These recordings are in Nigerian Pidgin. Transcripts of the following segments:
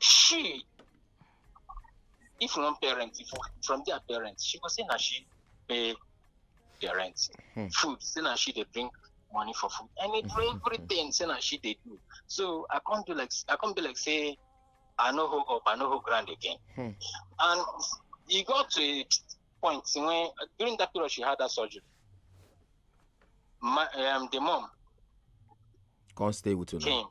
she if you wan parent if from their parents she go say na she pay their rent hmm. food say na she dey bring money for food and it mm-hmm. everything say na she dey do so i come do like i come be like say i no hold up i no hold ground again hmm. and e got to a point when during that period she had that surgery my um, the mom come stay with you came now.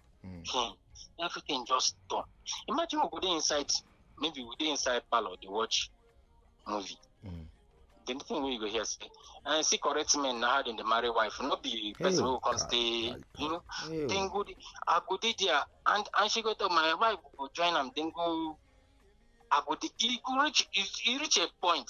Mm. Hmm. Everything just done. Imagine we go dey inside, maybe we dey inside parlor dey watch movie. Mm. The only thing wey you go hear say, and see correct men na how dem dey marry wife, no be person wey go come stay, you know. Hey, Then go dey, I go dey there, and and she go tell my wife go join am. Then go, I go dey. E go reach, e e reach a point.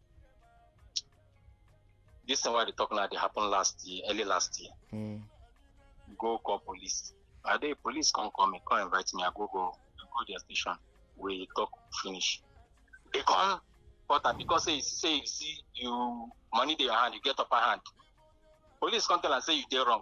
This thing why they talk now, they happened last year, early last year. Mm. Go call police. I the police come call me, come invite me. I go go, I go their station. We talk finish. They come, but I because say say you see you money in your hand, you get upper hand. Police come tell and say you did wrong.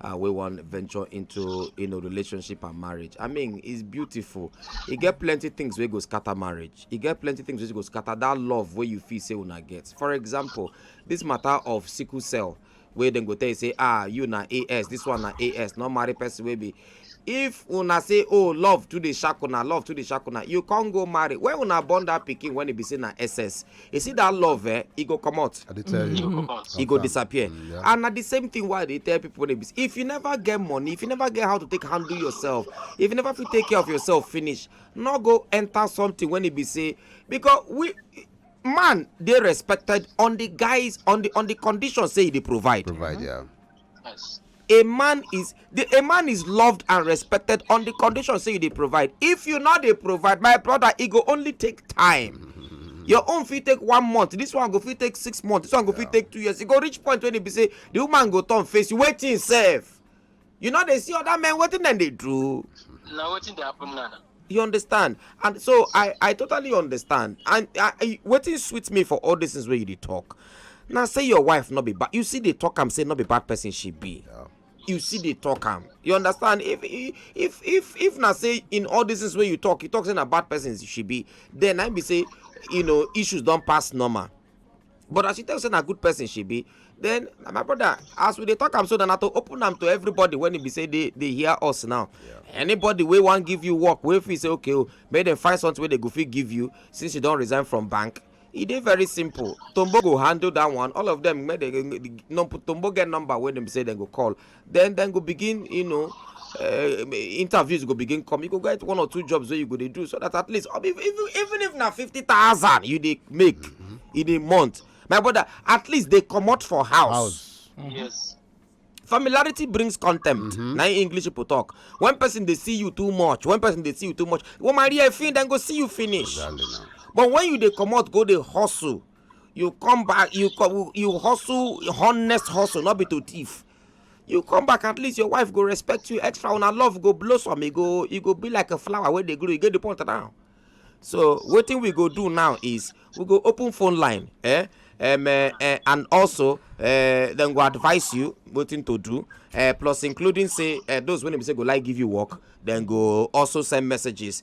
uh, we want venture into you know relationship and marriage i mean it's beautiful You get plenty things where go scatter marriage You get plenty things where go scatter that love where you feel say una get for example this matter of sickle cell where then go tell you say ah you na as this one na as not marry person wey be if una say oh love too dey shack una love too dey shack una you come go marry when una born that pikin when e be say na ss you see that love eh e go comot I dey tell you. e go Sometimes. disappear Mm, yeah. and na the same thing why i dey tell people when e be say if you never get money if you never get how to take handle yourself if you never fit take care of yourself finish no go enter something when e be say because we man dey respected on the guys on the on the condition say e dey provide Provide, yeah. Yes. A man is the a man is loved and respected on the condition say you dey provide. If you not dey provide, my brother, it go only take time. Your own fit take one month, this one go fit take six months, this one go fit take two years. You go reach point when it be say the woman go turn face you waiting self. You know they see other men waiting then they do. Now waiting they happen now. you understand and so i i totally understand and i, I wetin sweet me for all these things wey you dey talk na say your wife no be bad you see dey talk am say no be bad person she be Yeah. you see dey talk am you understand if if if if na say in all these things wey you talk you talk say na bad person she be then i be say you know issues don pass normal but as she tell say na good person she be then my brother as we dey talk am so na to open am to everybody when e be say dey dey hear us now anybody wey wan give you work wey fit say okay o oh, make dem find something wey dem go fit give you since you don resign from bank e dey very simple tombo go handle that one all of them make dem tombo get number wey dem say dem go call then then go begin you know uh, interviews go begin come you go get one or two jobs wey you go dey do so that at least um, even even if na fifty thousand you dey make mm -hmm. in a month my brother at least dey comot for house. house. Mm -hmm. yes. familiarity brings contempt mm -hmm. na english people talk when person dey see you too much when person dey see you too much woman rí ẹ fin dem go see you finish exactly but when you dey comot go dey hustle you come back you come you hustle honest hustle not be to thief you come back at least your wife go respect you extra una love go blossom e go e go be like a flower wey dey grow e get the point now so wetin we go do now is we go open phone line eh um, uh, uh, and also uh, dem go advise you wetin to do uh, plus including say uh, those wey be say go like give you work dem go also send messages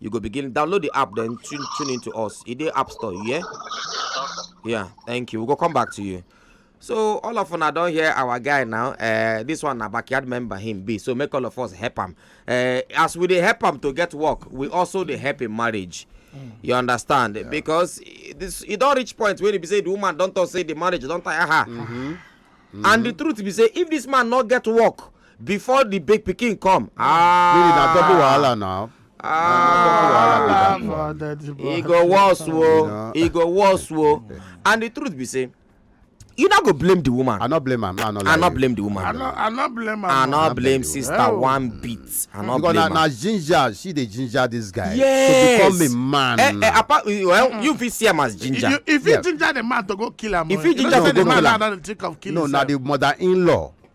You go begin download the app, then tune, tune into us. It the app store, yeah? Yeah, thank you. We'll go come back to you. So all of una don hear our guy now. Uh, this one na backyard member him be. So make all of us help him. Uh, eh, as we dey help him to get work, we also dey help in marriage. Mm. You understand? Yeah. Because this you don't reach point where you say the woman don't talk say the marriage don't tire her. Mm -hmm. Mm -hmm. And the truth be say if this man not get work, before the big pikin come. Ah, really na double wahala now. Ah, e go worse wo e go worse wo and the truth be say you no go blame the woman. i no blame am i no lie i no blame the woman. i no i no blame am. i no blame sister oh. one bit i no blame am. because na ginger she dey ginger this guy. yes to become a man. Eh, eh, apart well mm. you fit see am as ginger. if you ginger the man to go kill am. if you ginger to go kill am. no na the mother-in-law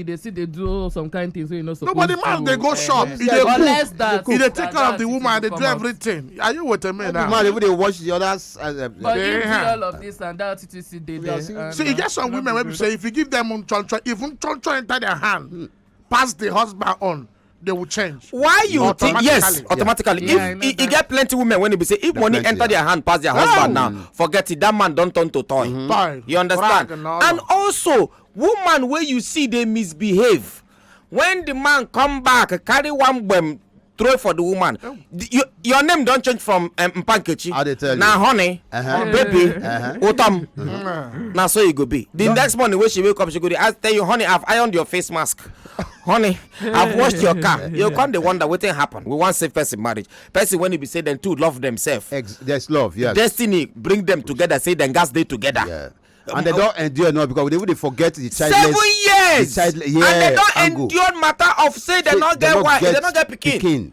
e dey still dey do some kind things wey e no suppose do. nobody man dey go eh, shop e dey cook e dey take care of the woman e dey do everything are you with me now. the man even dey watch the others. Uh, uh, but you see all of this and that titi still dey there. see e get some women wey be say if you give them chonchon even chonchon enter their hand hmm. pass the husband own they will change. why you think yes automatically yeah. if e get plenty women when e be say if money enter yeah. their hand pass their husband now forget it that man don turn to toy. Mm -hmm. toy you understand and also woman wey you see dey misbehave when the man come back carry one gbem throw for the woman oh. you, your name don change from um, mpankechi na honey uh -huh. baby uh -huh. utom uh -huh. na so e go be the no. next morning wey she wake up she go dey ask tell you honey i have ironed your face mask honey i've washed your car you come dey wonder wetin happen we wan save person marriage person when e be say dem two love themselves there's love yes destiny bring them together say dem gats dey together yeah. Um, and they don endure now because they even dey forget the childless seven years the childless yeah, and they don endure matter of say they no get wife they no get pikin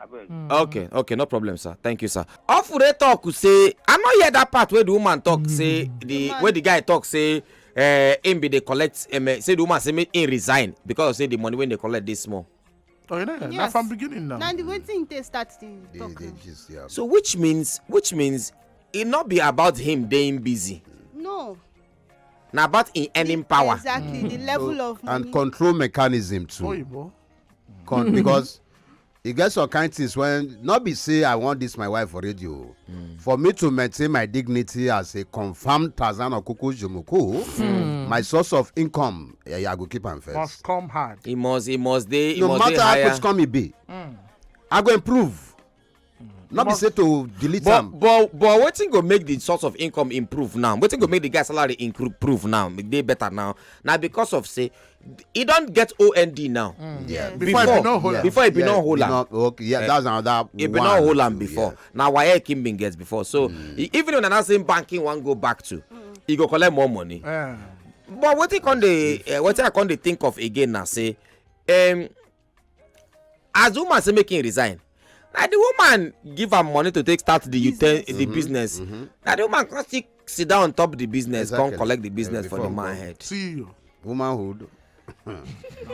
abeg. Hmm. okay okay no problem sir thank you sir. ofure talk say i no hear that part wey the woman talk hmm. say the wey the guy talk say uh, him be dey collect um, say the woman say make him resign because of say the money wey dey collect dey small. Oh, you know, yes. na from beginning now. na the way thing take start dey talk. They, they just, yeah. so which means which means e no be about him dey busy. no na about in earning power. exactly mm. the level so, of money. and control mechanism too. Oyibo. come because e get some kind things when not be say i want this my wife for radio mm. for me to maintain my dignity as a confirmed tarzan okuku jumuku mm. my source of income yeah, yeah, i go keep am first. must come hard. e must e must dey e no must dey higher no matter how much come e be mm. i go improve no be say to delete am but but wetin go make the source of income improve now wetin go make the guy salary improve now make dey better now na because of say e don get ond now mm. before e bin no hold am before e bin no hold am okay yeah eh, that's another one e bin no hold am before na waec him bin get before so mm. e, even if na that same banking wan go back to e go collect more money eh. but wetin come dey eh, wetin i come dey think of again na say um, as the woman say make him resign na the woman give am money to take start the business. the mm-hmm. business mm-hmm. na the woman come still sit down on top the business exactly. come collect the business yeah, for the man head. see you womanhood.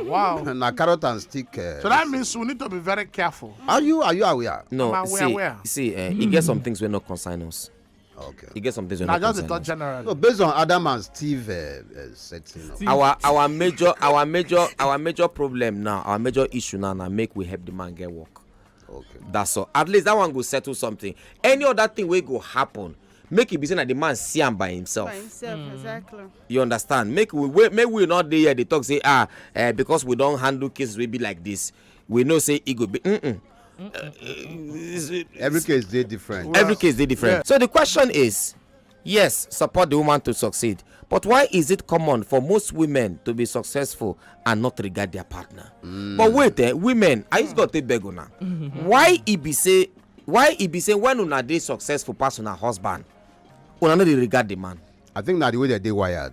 wow na carrot and stick. Uh, so that means we need to be very careful. are you are you aware. no see aware. see uh, e get some things wey no concern us. okay e get some things wey no concern us. na just the talk generally. no based on adam and steve uh, uh, setting up. our our major our major our major problem now our major issue now na make we help the man get work. okay that's all at least that one go settle something any other thing wey go happen make e be say na the man see am by himself. by himself mm. exactly. you understand make we wait make we not dey here dey talk say ah uh, because we don handle cases wey be like this we know say e go be mm -mm. Uh, every case dey different well, every case dey different yeah. so the question is yes support the woman to succeed but why is it common for most women to be successful and not regard their partner mm. but wait eh women i just got to beg una why e be say why e be say when una dey successful pass una husband una no dey regard the man i think na the way dem dey wired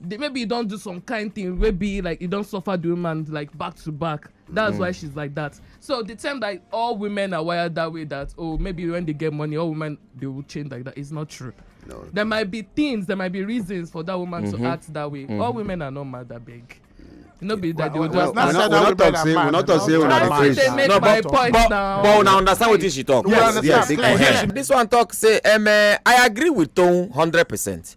the, maybe you don't do some kind thing where be like you don't suffer the woman like back to back that's mm. why she's like that so the term that all women are wired that way that oh maybe when they get money all women they will change like that is not true no. there might be things there might be reasons for that woman mm-hmm. to act that way mm-hmm. all women are not mad that big no be that well, they well, well, well, well, not talk say we not talk say una dey craze no but but but una understand wetin she talk yes yes yes this one talk say um, uh, i agree with toun hundred percent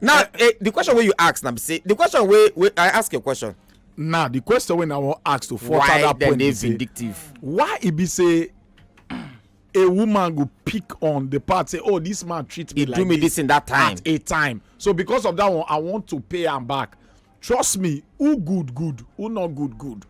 now eh, eh, the question wey you ask na be say the question wey wey i ask your question. now the question wey i wan ask to further that point be say why dem dey vindictive. why e be say a woman go pick on the part say oh this man treat me he like do me this, this in that time at a time so because of that one i want to pay am back trust me who good good who not good good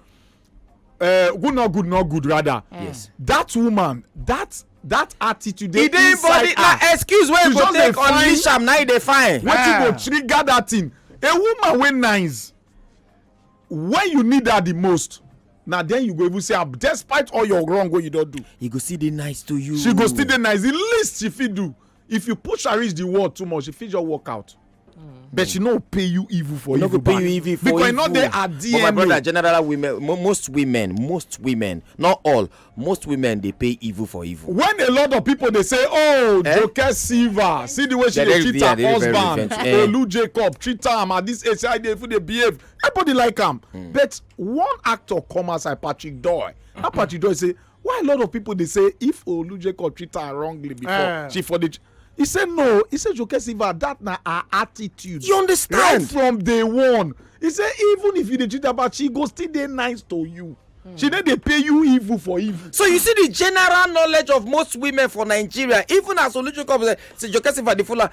uh, good not good not good rather eh. yes that woman that that attitude dey inside her na excuse wey go take unleash am na e dey fine wetin go ah. trigger that thing a woman wey nice when you need her the most na then you go even say am ah, despite all your wrong wey you don do. you go still dey nice to you. she go still dey nice the least she fit do if you push her reach the wall too much she fit just walk out but she no pay you evil for no evil go pay you evil for because evil. not there at dna. but my brother general women most women most women not all most women dey pay evil for evil. when a lot of people dey say oh eh? joke silva see the way she dey treat her husband eh. olu jacob treat am at this age how dey even dey behave everybody like am mm. but one actor come outside patrick doy mm. patrick doy say why a lot of people dey say if olujeko treat her wrongly before uh. she for dey he say no he say joke silva that na her attitude you understand right from day one he say even if you dey treat her bad she go still dey nice to you Mm. she no dey pay you evil for evil. so you see the general knowledge of most women for nigeria even as olujokob say joke silva dey follow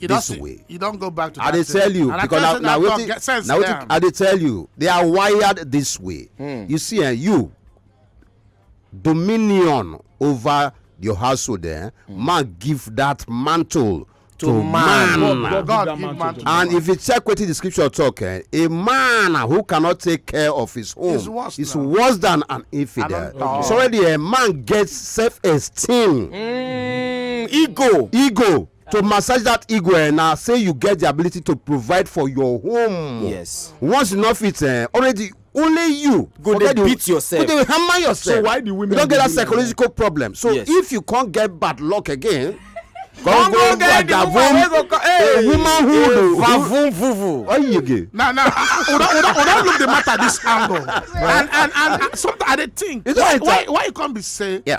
you this see, way you don't go back to i dey tell you and because na na wetin na wetin i dey tell you they are wired this way hmm. you see eh you dominion over your household eh hmm. man give that mantle to, to man, man. God, God give man to and if you check wetin the scripture talk eh a man who cannot take care of his home is worse, is worse than an infidel okay. so already a man gets self-esteem mm, ego ego to massage that ego eh, na say you get the ability to provide for your home yes once you no fit eh, already only you go dey beat yourself go dey hammer yourself so why the women you don get that psychological problem so yes. if you come get bad luck again come go get the woman wey go come hey womanhood o vavun vuvu oyege. na na una una una look the matter this angle and and and sometimes i dey think why why why e come be say. Yeah.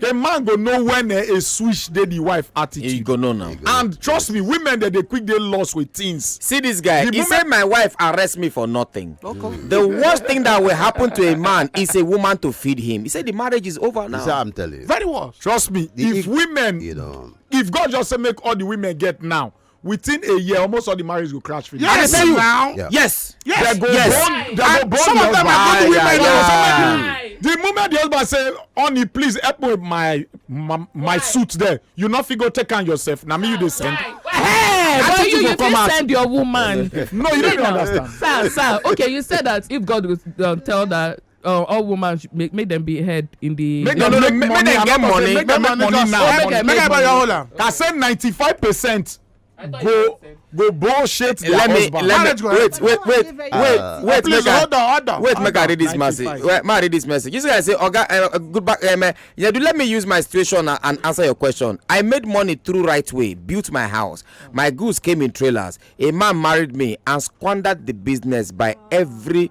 the man go know when eh, a switch dey the wife attitude. he go know now. and trust me women dey dey quick dey lost with things. see this guy the he moment... say my wife arrest me for nothing. Okay. the worst thing that will happen to a man is a woman to feed him he say the marriage is over now. he say i'm telling you. very well. trust me the if, if women. You know. if god just say make all the women get now within a year almost all the marriage go crash finish. yes I tell you now yeah. yes yes they go yes. Bond, they go bond some of them are going to win my marriage the moment the husband say honey please help me with my my, my suit there you no fit go take am yourself na me you dey send. Why? Hey, I but you, you did out. send your woman. no, you don't understand. Sir, sir. Okay, you said that if God would um, tell that uh, all women should make make them be head in the. make dem no make money dem get money make dem make money now make dem buy your whole am. ka say ninety five percent go go bullshit their let me, husband. Let me, wait, wait, wait, wait, uh, wait, wait, make hold on, hold on, wait, make I read this message. Wait, may I read this message. You see, I say, Oga, uh, uh, good back, um, uh, yeah, do let me use my situation uh, and answer your question. I made money through right way, built my house, my goods came in trailers. A man married me and squandered the business by every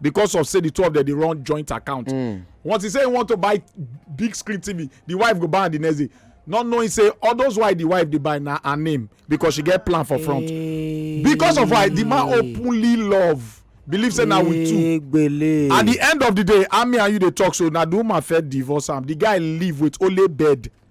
because of say the two of them dey run joint account hmm. once he say he want to buy big screen tv the wife go buy am the next day not knowing say all those why the wife dey buy na her name because she get plan for front because of why the man openly love believe say na we two at the end of the day ami and you dey talk so na the woman first divorce am the guy live with only bed